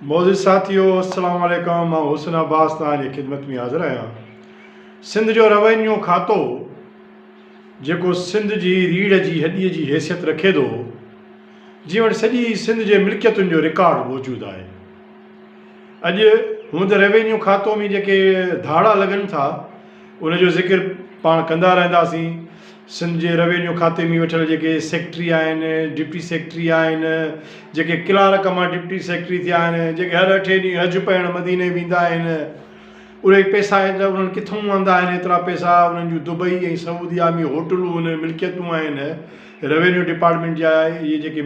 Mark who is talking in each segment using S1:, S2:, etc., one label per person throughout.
S1: معزز ساٿيو السلام عليڪم مان حسن عباس توهان جي خدمت ۾ حاضر آهيان سنڌ جو روينيو کاتو جيڪو سنڌ جي ريڙهه جي هڏي جي حيثيت رکي ٿو جي وٽ سڄي سنڌ جي ملڪيتن جو رڪارڊ موجود آهي اڄ هوند روينيو کاتو ۾ جيڪي ڌاڙا لڳن ٿا ان جو ذڪر پاڻ ڪندا رهنداسين. سنڌ جي روينيو کاتي ۾ ويٺل جيڪي سيڪريٽري آهن، ڊپٽي سيڪريٽري آهن، جيڪي ڪلارڪ مان ڊپٽي سيڪريٽري ٿيا آهن، جيڪي هر اٺين ڏينهن حج پڙهڻ مديني ويندا آهن، اهي پئسا ايترا انهن ڪٿئون آندا آهن، ايترا پئسا انهن جون دبئي ۽ سعوديه ۾ هوٽلون ۽ ملڪيتون آهن، روينيو ڊپارٽمينٽ جا اهي جيڪي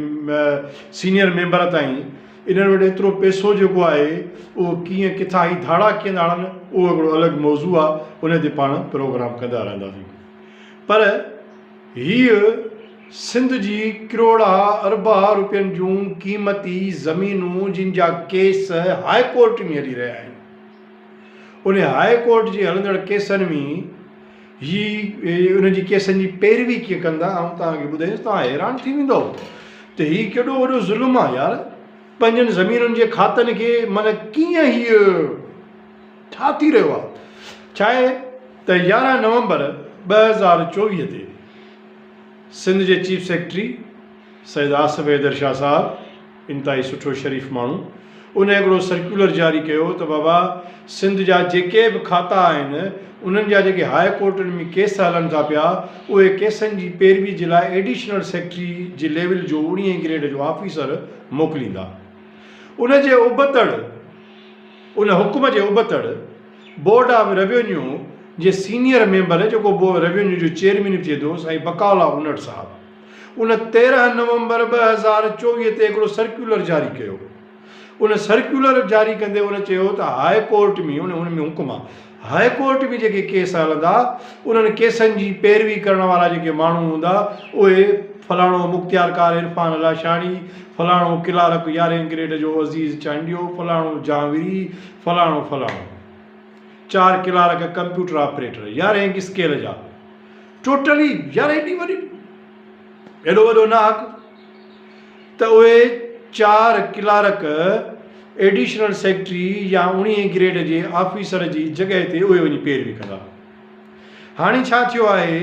S1: سينيئر ميمبر تائين انهن وٽ ايترو پئسو جيڪو آهي اهو ڪيئن ڪٿان هي ڌاڙا ڪيئن ٿا هڻن اهو هڪڙو الڳ موضوع آ ان تي پاڻ پروگرام ڪندا رهنداسين پر هيء سنڌ جي ڪروڙها اربها روپين جون قيمتي زمينون جن جا ڪيس هاء ڪورٽ ۾ هلي رهيا آهن ان هاء ڪورٽ جي هلندڙ ڪيسن ۾ هي ان جي ڪيسن جي پيروي ڪيئن ڪندا آئون توهان کي ٻڌايس توهان حيران ٿي ويندؤ ته هي ڪيڏو وڏو ظلم آ يار پنهنجن زمينن جي کاتن کي معنيٰ ڪيئن هي ڇا ٿي رهيو آ ڇا آهي ته يارهن نومبر ٻه هزار چوويهه تي سنڌ جي چيف سيڪريٽري سيد آصف حيدر شاهه صاحب انتهائي سٺو شريف ماڻهو. ان هڪڙو سرڪيولر جاري ڪيو ته بابا سنڌ جا جيڪي به کاتا آهن انهن جا جيڪي هاء ڪورٽن ۾ ڪيس هلن ٿا پيا اهي ڪيسن جي پيروي جي لاء ايڊيشنل سيڪريٽري جي ليول جو اڻيهين گريڊ جو آفيسر موڪليندا. ان جي ابتڙ ان حڪم جي ابتڙ بورڊ آف روينيو جي سينيئر ميمبر جيڪو ريونيو جو چيئرمين به ٿئي ٿو سائين بقاء الله انڙ صاحب ان تيرهن نومبر ٻه هزار چوويهه تي هڪڙو سرڪيولر جاري ڪيو. ان سرڪيولر جاري ڪندي هن چيو ته هاء ڪورٽ ۾ ان ان ۾ حڪم آ هاء ڪورٽ ۾ جيڪي ڪيس هلندا انهن ڪيسن جي پيروي ڪرڻ وارا جيڪي ماڻهو هوندا اهي فلاڻو مختيارڪار عرفان الهاشاڻي، فلاڻو ڪلارڪ يارهين گريڊ جو عزيز چانڊيو، فلاڻو جهانوري، فلاڻو فلاڻو. چار ڪلارڪ ڪمپيوٽر آپريٽر، يارهين اسڪيل جا. ٽوٽلي يار ايڏي وڏي ايڏو وڏو ناحق ته اهي چار ڪلارڪ ايڊيشنل سيڪريٽري يا اڻيهين گريڊ جي آفيسر جي جڳهه تي اهي وڃي پيروي ڪندا هاڻي ڇا ٿيو آهي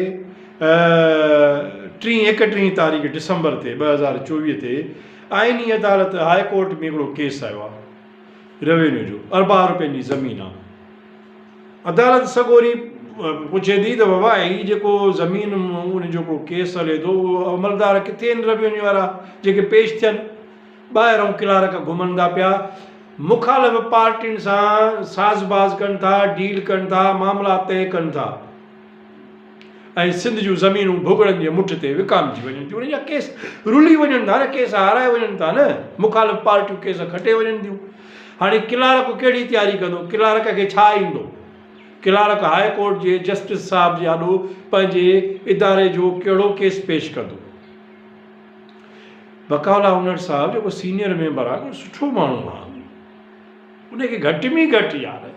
S1: ٽين ايڪٽيهين تاريخ ڊسمبر تي ٻه هزار چوويهه تي آئيني عدالت هاء ڪورٽ ۾ هڪڙو ڪيس آيو آهي روينيو جو اربان روپين جي زمين آ عدالت سڳوري پڇي ٿي ته بابا هي جيڪو زمين ان جو ڪو ڪيس هلي ٿو اهو عملدار ڪٿي آهن روينيو وارا جيڪي پيش ٿين ٻاهرون ڪلارڪ گهمن ٿا پيا مخالف پارٽين سان ساز باز ڪن ٿا ڊيل ڪن ٿا معاملا طئي ڪن ٿا ۽ سنڌ جون زمينون ڀڳڙن جي مٺ تي وڪامجي وڃن ٿيون انهن جا ڪيس رلي وڃن ٿا نه ڪيس هارائي وڃن ٿا نه مخالف پارٽيون ڪيس کٽي وڃن ٿيون هاڻي ڪلارڪ ڪهڙي تياري ڪندو ڪلارڪ کي ڇا ايندو ڪلارڪ هاء ڪورٽ جي جسٽس صاحب جي آڏو پنهنجي اداري جو ڪهڙو ڪيس پيش ڪندو بقاء الله هونئر صاحب جيڪو سينيئر ميمبر آهي سٺو ماڻهو آهي ان کي گهٽ ۾ گهٽ يار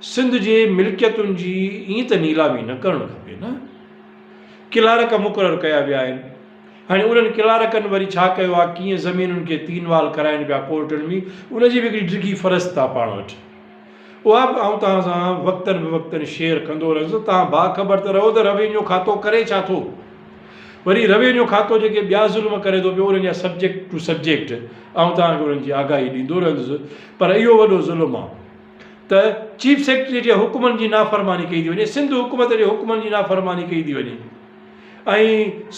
S1: سنڌ جي ملڪيتن جي ائين ته نيلامي نه ڪرڻ کپي نه. ڪلارڪ مقرر ڪيا ويا آهن. هاڻي انهن ڪلارڪن وري ڇا ڪيو آهي ڪيئن زمينن کي تين وال ڪرائين پيا ڪورٽن ۾ ان جي به هڪڙي ڊگهي فهرست آهي پاڻ وٽ. اها به آئون توهان سان وقتن به وقتن شيئر ڪندو رهندس توهان باخبر ته رهو ته روينيو کاتو ڪري ڇا ٿو. وري روينيو کاتو جيڪي ٻيا ظلم ڪري ٿو پيو انهن جا سبجيڪٽ ٽو سبجيڪٽ آئون توهان کي انهن جي آگاهي ڏيندو رهندس پر اهو وڏو ظلم آ ته چيف سيڪريٽري جي حڪمن جي نافرماني ڪئي ٿي وڃي سنڌ حڪومت جي حڪمن جي نافرماني ڪئي ٿي وڃي ۽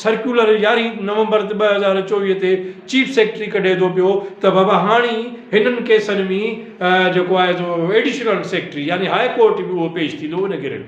S1: سرڪيولر يارهين نومبر ٻه هزار چوويهه تي چيف سيڪريٽري ڪڍي ٿو پيو ته بابا هاڻي هنن ڪيسن ۾ جيڪو آهي سو ايڊيشنل سيڪريٽري يعني هاء ڪورٽ ۾ اهو پيش ٿيندو ان گرڊ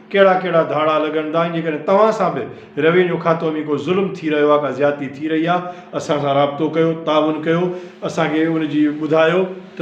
S1: ڪهڙا ڪهڙا ڌاڙا لڳن ٿا ۽ جيڪڏهن توهان سان به روينيو کاتو ۾ ڪو ظلم ٿي رهيو آهي ڪا زيادتي ٿي رهي آهي اسان سان رابطو ڪيو تعاون ڪيو اسان کي ان جي ٻڌايو ته